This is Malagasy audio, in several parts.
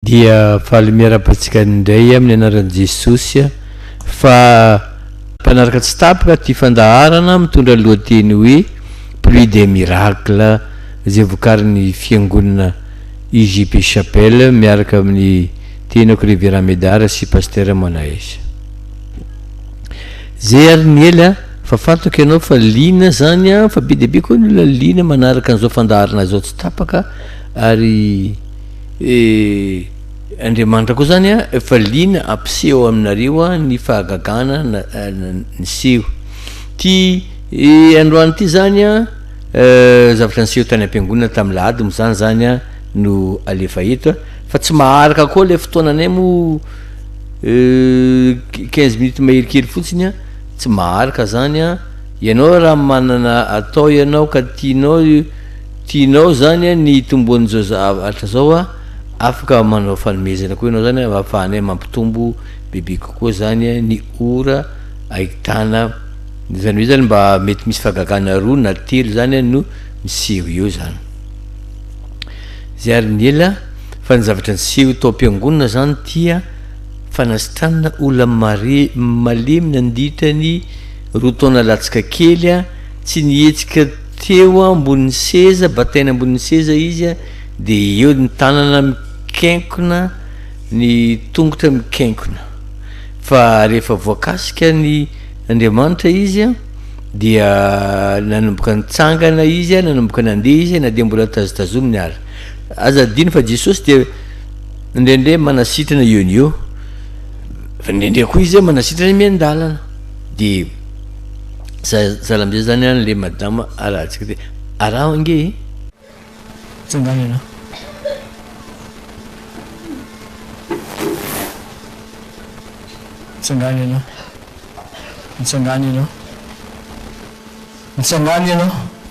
Dia faly miarahaba antsika indray amin'ny anaran'i Jesosy a! Fa mpanaraka tsy tapaka ity fandaharana mitondra ny lohateny hoe Pluie des miracles izay vokarin'ny fiangonana IJP Chapelle miaraka amin'ny tenako Reverend Medard sy Pasteur Manaes. Zay ary ny ela fa fantako ianao fa liana zany an! Fa be dia be koa ny olona liana manaraka an'izao fandaharana izao tsy tapaka ary Eh! Andriamanitra koa zany an efa liana hampiseho aminareo ny fahagagana niseho ty eh androany ty zany an eh zavatra niseho tany ampiangonana tamin'ny lahady moa zany zany an no alefa eto an fa tsy maharaka koa le fotoananay moa eh quinze minutes mahery kely fotsiny an tsy maharaka zany an ianao raha manana atao ianao ka tianao Tianao zany an ny hitomboan zao zavatra zao an, afaka manao fanomezana koa ianao zany an afahanay mampitombo bebe kokoa zany an ny ora ahitana zany hoe zany mba mety misy fagagana roa na telo zany an no miseho eo zany zay ary ny ela fa ny zavatra niseho tao am-piangonana zany tia fanasitranana olona mare malemy nandritra ny roa taona latsaka kely an tsy nihetsika Teo ambony seza, bataina ambony seza izy dia eo ny tanana mikenkona, ny tongotra mikenkona. Fa rehefa voakasika ny Andriamanitra izy dia nanomboka nitsangana izy, nanomboka nandeha izy na dia mbola tazotazomina ary. Aza adino fa Jesosy dia indraindray manasitrana eo no eo, fa indraindray koa izy manasitrana miandalana. Dia. Zara amizay zany an le madama arahantsika ty, araho ange e! Tsanganana. Mitsangana ianao. Mitsangana ianao. Mitsangana ianao.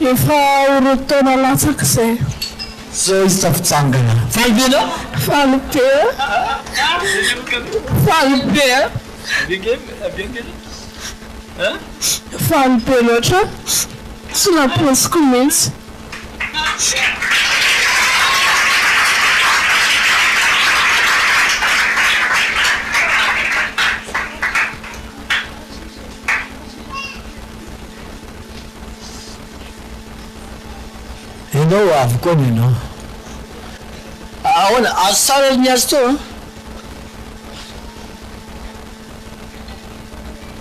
Efa ho roa taona latsaka izay. Izao izy tsy fijangana. Faly be enao? Faly be a! Faly be a! Faly be loatra tsy nampoiziko mihitsy. Enga ho avy koa ny anao. Ahoana? Azo tsara ry Niazi toa an!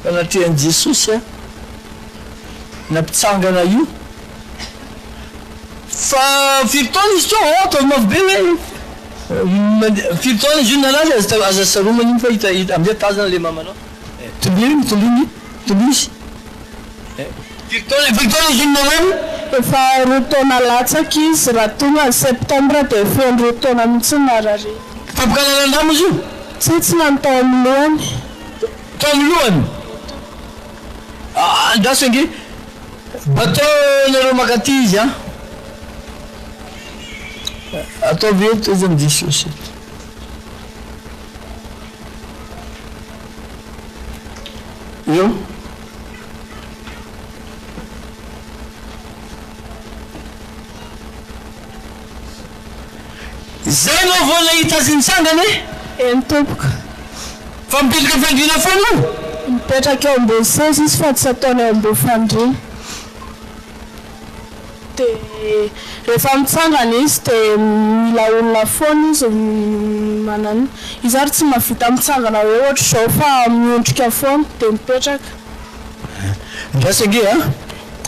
Anatrehan'i Jesosy aho nampitsangana io. Fa firy taona izy teo? Aa ataovy mafy be hoe mandeha. Firy taona izy io nalaza? Aza saromana iny fa hita, hita amin'izay tazana ilay mamanao. Toliro, toliro ny. Tunisy. Firy taona efa teo izy iny namoy? Efa roa taona latsaka izy, raha tonga ny septembre dia feno roa taona mihitsy ny narariany. Fampikalalan-dra moa izy io? Tsia, tsy lany tao amin'ny lohany. Tao amin'ny lohany? Andraso ange bateau nareo mankaty izy an! Ataovy eto izy amin'i Jesosy eto. Io Zay no vao nahita azy nitsangana e! Eny tompoko. Fa mipetraka fandriana foana io? Mipetraka eo ambony seza izy fa tsy ataony eo ambony fandriana. Dia rehefa mitsangana izy dia mila olona foana izy manana. Izy ary tsy mahavita mitsangana hoe ohatr'izao fa miondrika foana dia mipetraka. Andraso ange a!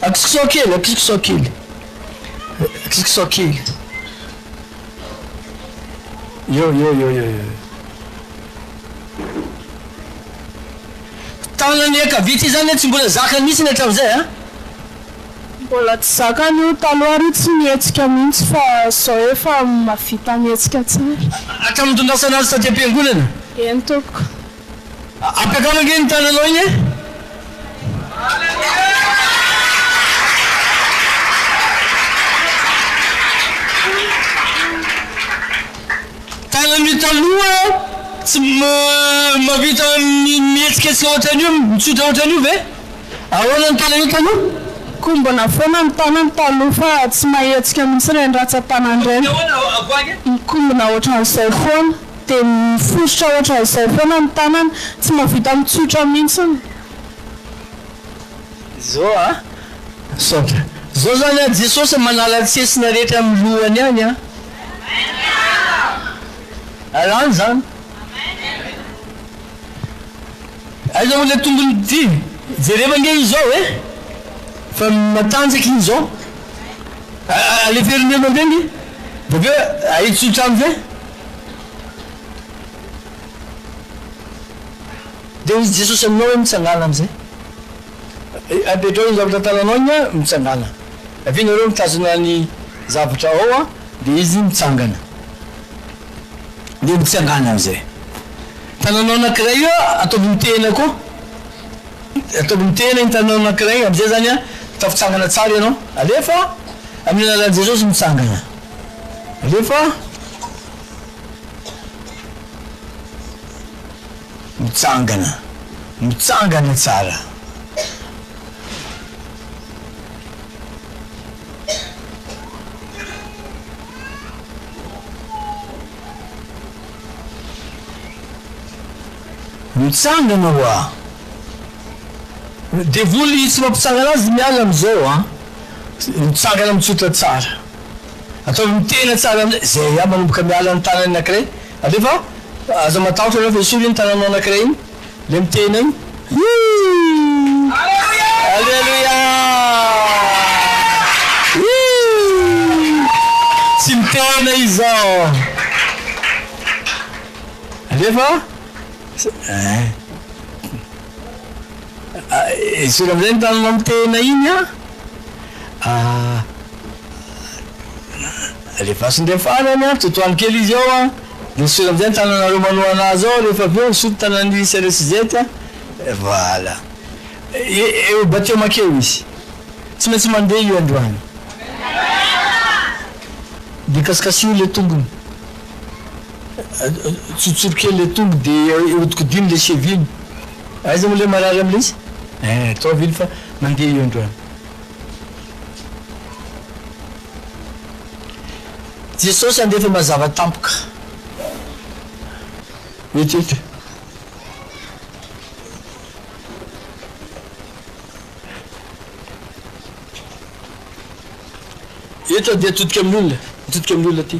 Akisokisao kely, akisokisao kely, akisokisao kely. Eo, eo, eo, eo, eo. Tanan'ny ankavia ity izany tsy mbola zakany mihitsy hatramin'izay a! Mbola tsy zakany io, taloha ary tsy nihetsika mihitsy fa zao efa mavita mihetsika tsara. Hatramin'ny itondrasana azy taty am-piangonana? Eny tompoko. Ampiakaro ange ny tananao iny e! Tanan'io taloha tsy mavita mihetsika tsy ohatran'io, mitsotra ohatran'io ve? Ahoana ny tananao taloha? Kombona foana ny tanany taloha fa tsy mahetsika mihitsy ireny ratsan-tanany ireny. Mikombona ohatran'izay foana, dia mifosotra ohatran'izay foana ny tanany, tsy mahavita mitsotra mihitsy. Izao an! Misaotra. Izao izany an, Jesosy manala ny tsesina rehetra amin'ny lohany ihany an! Alany izany. Aiza moa le tombony ty? Jereva nge izy zao eh! Fa matanjaka iny zao. Aleferiny eo mandeha nge bokeo ahitsotsa aminy zay. Dia hoy Jesosy aminao hoe mitsangàna amin'izay. Apetraho ny zavatra an-tananao iny an, mitsangàna. Avy eo nareo mitazona ny zavatra ao an, dia izy mitsangana. dia mitsangana amin'izay. Tananao anankiray io ataovy ny tehina koa, ataovy ny tehina iny tananao anankiray iny, amin'izay izany tafitsangana tsara ianao. Alefa amin'ny anaran'i Jesosy mitsangana. Alefa. Mitsangana. Mitsangana tsara. Mitsangana ho ahy. Devoly tsy mampitsangana azy miala amizao a! Mitsangana mitsotra tsara. Ataovy mitena tsara amizay. Zay a manomboka miala ny tanany anakiray. Alefa, aza matahotra alefa esory iny tananao anakiray iny. Le miteny hoe, Hii! Aleloia! Hii! Tsy miteny izao. Alefa eh. Esory amin'izay ny tananao miteny iny an. Ah. Alefaso ndray farany an, totoano kely izy eo an. Misy filandia ny tananareo manohana azy ao rehefa avy eo misolo tanan'i Seresizety a! Voilà. Eo batiomak eo izy. Tsy maintsy mandeha io androany. Dia kasikasiho ilay tongony. Tsotsoro kely ilay tongo dia hodikodino ilay cheville. Aiza moa ilay marary amin'ilay izy? Eeh, ataovy iny fa mandeha io androany. Jesosy handefa mazava tampoka eto. Eto dia atodika amin'ny olona, atodika amin'ny olona ity.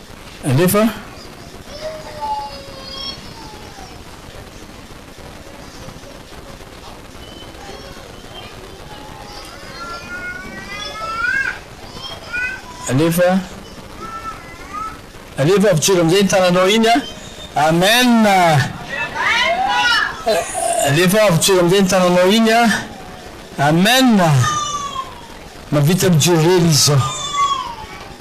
Alefa Alefa Alefa avy joro amin'izay ny tananao iny an Amen Alefa avy joro amin'izay ny tananao iny an Amen Mahavita mijoro irery izy izao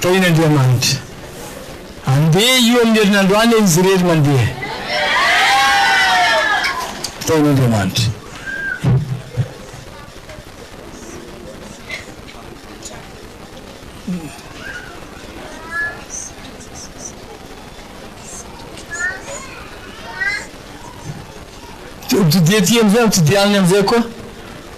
Tahian' Andriamanitra. Andeha io amin'ny herinandro any izy irery mandeha. Tahian' Andriamanitra. Todiaty amin'izay, todianiny amin'izay koa.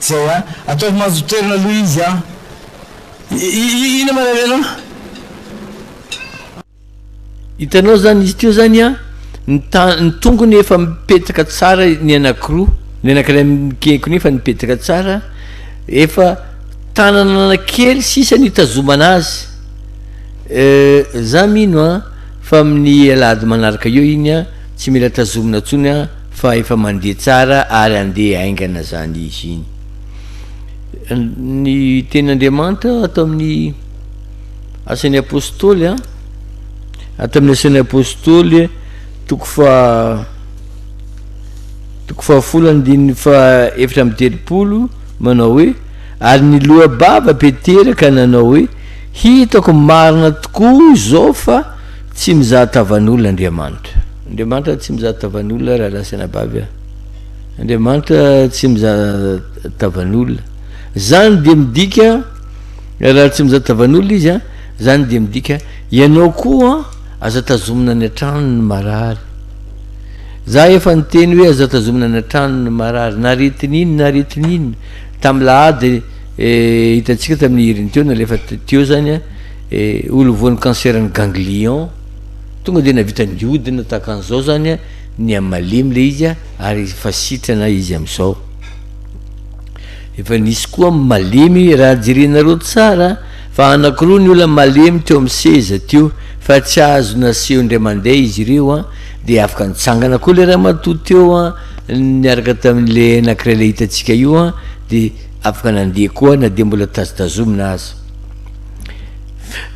Zay a! Ataovy mahazo toerana aloha izy a! Inona ma ravena a! Hitanao zany izy teo zany a, ny ta ny tongony efa mipetaka tsara ny anakiroa, ny anakiray mikenkona iny fa nipetaka tsara, efa tanana kely sisa no hitazomana azy, za mino a fa amin'ny alahady manaraka eo iny a, tsy mila tazomina tsony a. Fa efa mandeha tsara ary andeha haingana zany izy iny. Ny teny Andriamanitra ato amin'ny asan'ny Apostoly an, ato amin'ny asan'ny Apostoly toko faha toko fahafolo andininy faha efatra amby telopolo manao hoe ary ny loa-bava Petera ka nanao hoe hitako marina tokoa izao fa Tsy mizaha tavan'olona Andriamanitra. Andriamanitra tsy mizaha tavan'olona rahalahy sy anabavy a! Andriamanitra tsy mizaha tavan'olona. Zany dia midika raha tsy mizaha tavan'olona izy a, zany dia midika ianao koa aza tazomina any an-trano ny marary. Za efa niteny hoe aza tazomina any an-trano ny marary, naritin'iny naritin'iny, tamin'ilahady eh, hitantsika tamin'ny herin'ny teo nalefa teo zany a, E, olo voan'ny cancer-n'ny ganglion, tonga dia nahavita niodina tahaka an'izao zany ny amin'ny malemy le izy ary efa sitrana izy amin'izao. Efa nisy koa malemy raha jerenareo tsara fa anankiroa ny olona malemy teo amin'ny seza teo fa tsy azo naseho indray mandeha izy ireo an, dia afaka nitsangana koa le ramatoa teo an, niaraka tamin'le anankiray le hitantsika io an, dia afaka nandeha koa na dia mbola tazotazomina aza.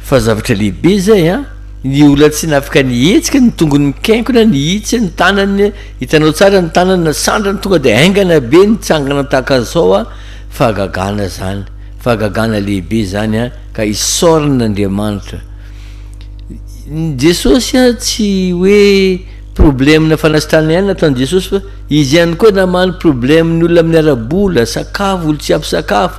Fa zavatra lehibe izay an! Ny olona tsy nafaka nihetsika, ny tongony mikenkona, nihitsy ny tanany, hitanao tsara ny tanany nasandrany tonga dia haingana be nitsangana tahaka izao an! Fahagagana izany, fahagagana lehibe izany an! Ka isaorana Andriamanitra. Jesosy an tsy hoe problème-na fanasitranana ihany nataon'i Jesosy fa Izy ihany koa namaly problème-ny olona amin'ny ara-bola, sakafo, olo-tsy ampy sakafo,